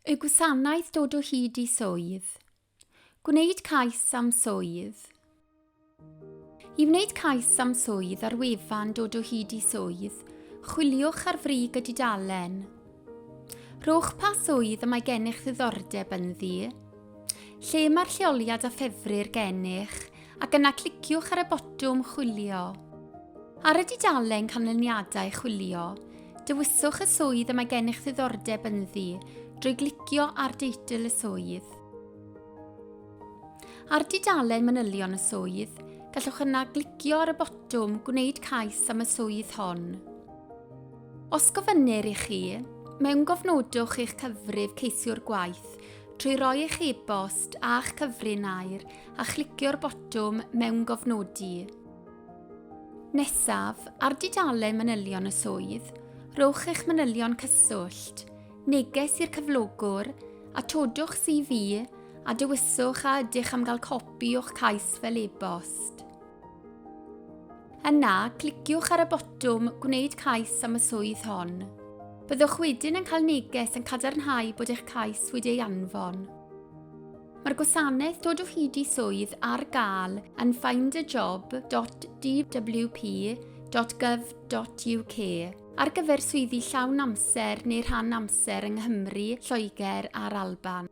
Y gwasanaeth dod o hyd i swydd. Gwneud cais am swydd. I wneud cais am swydd ar wefan dod o hyd i swydd, chwiliwch ar frig y dudalen. Rhowch pa swydd y mae gennych ddiddordeb ynddi, lle mae'r lleoliad a ffefrir gennych ac yna cliciwch ar y botwm Chwilio. Ar y dudalen Canlyniadau Chwilio, dewiswch y swydd y mae gennych ddiddordeb ynddi drwy glicio ar deitl y swydd. Ar dudalen manylion y swydd, gallwch yna glicio ar y botwm Gwneud cais am y swydd hon. Os gofynnir i chi, mewn gofnodwch eich cyfrif ceisiwr gwaith trwy roi eich e-bost a'ch cyfrin air a chlicio'r botwm Mewngofnodi. Nesaf, ar dudalen manylion y swydd, rhowch eich manylion cyswllt, neges i'r cyflogwr, atodwch CV a dewiswch a ydych am gael copi o'ch cais fel e-bost. Yna, cliciwch ar y botwm Gwneud cais am y swydd hon. Byddwch wedyn yn cael neges yn cadarnhau bod eich cais wedi ei anfon. Mae'r gwasanaeth dod o hyd i swydd ar gael yn findajob.dwp.gov.uk ar gyfer swyddi llawn amser neu rhan amser yng Nghymru, Lloegr a'r Alban.